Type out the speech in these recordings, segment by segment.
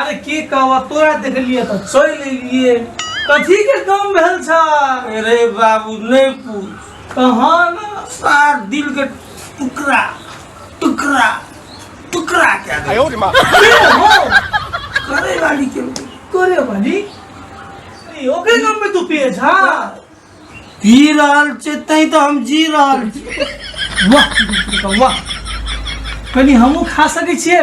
अरे की कहबा तोरा देखलिए तऽ चलि एलिए कथी के काम भेल छ अरे बाबू नहि पूछ कहाँ न सार दिल के टुकड़ा टुकड़ा टुकड़ा क्या दे हो करे वाली के करे वाली अरे, ओकरे नाम पे तू पिए छा पी रहल छै तैं तऽ हम जी रहल छी वाह वाह कनी हमहूँ खा सकै छियै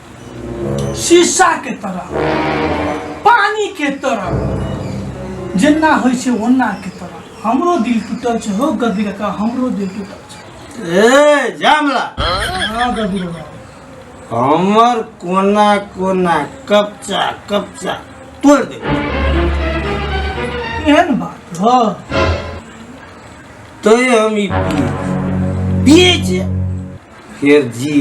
शीशा के तरह पानी के तरह जेना होइ छै ओना के तरह हमरो दिल टूटल छै हो गद्दी काका हमरो दिल टूटल छै ए जामला हाँ गद्दी काका हमर कोना कोना कपचा कपचा तोड़ दे एहन बात हो तो हम ई पिए पिए छै फिर जी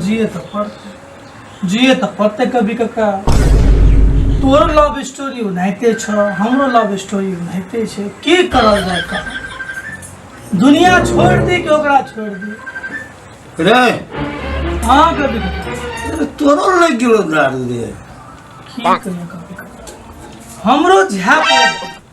जिए तो पड़ते जिए तो पड़ते कभी कका तोरो लव स्टोरी उनाइते छ हमरो लव स्टोरी उनाइते छै की करल जाय का दुनिया छोड़ दी कि ओकरा छोड़ दी रे हाँ कभी कका तोरो लग गेलो दारू रे की कहियो कभी कका हमरो झा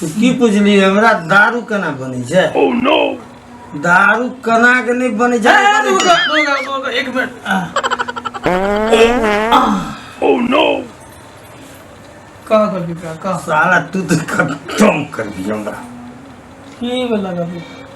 तू की पुछली हमरा दारू केना बनै छै ओह नो दारू केना के नहि बनै छै एक मिनट ओह नो कह कभी कह साला तू तो खत्म कर दी हमरा की बोला कभी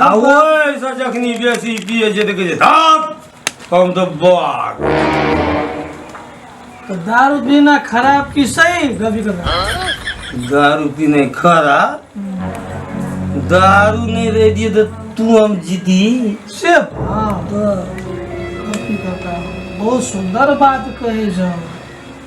आ ओहिसँ जखनी बेसी पिए छै तऽ कहै छै धाप हम तऽ बाघ तो दारू पीना खराब की सही गभी कर दारू पीने खरा दारू नहीं रह दिए तो तू हम जीती से हाँ तो गलती करता हूँ। बहुत सुंदर बात कहे जाओ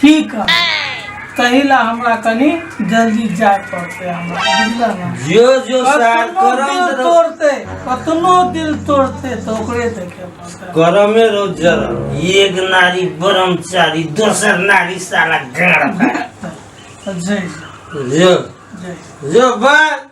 की कर तही ला हमरा कनी जल्दी जाय पड़ते हमरा बुझल ना जो जो सार कतनो करम दिल रहो तोड़ते कतनो दिल तोड़ते तो ओकरे देखे पड़ते करमे रहो जरम एक नारी ब्रह्मचारी दोसर नारी साला गाड़ तो जय जो जय जो बा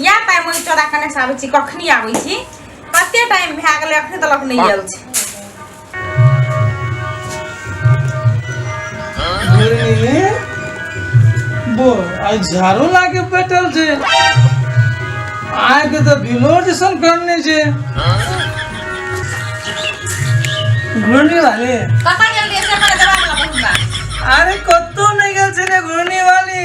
या टाइम ओहि चोरा कने से आबै छी कखनी आबै छी कते टाइम भए गेलै अखने तलक नहि आयल छी बो आई झाड़ू लाके बैठल छे आय के तो बिलो जैसन करने छे घूर्णी वाले कतऽ गेल रहियै से हमरा जवाब लगा अरे कतो नहीं गेल छे रे घूर्णी वाली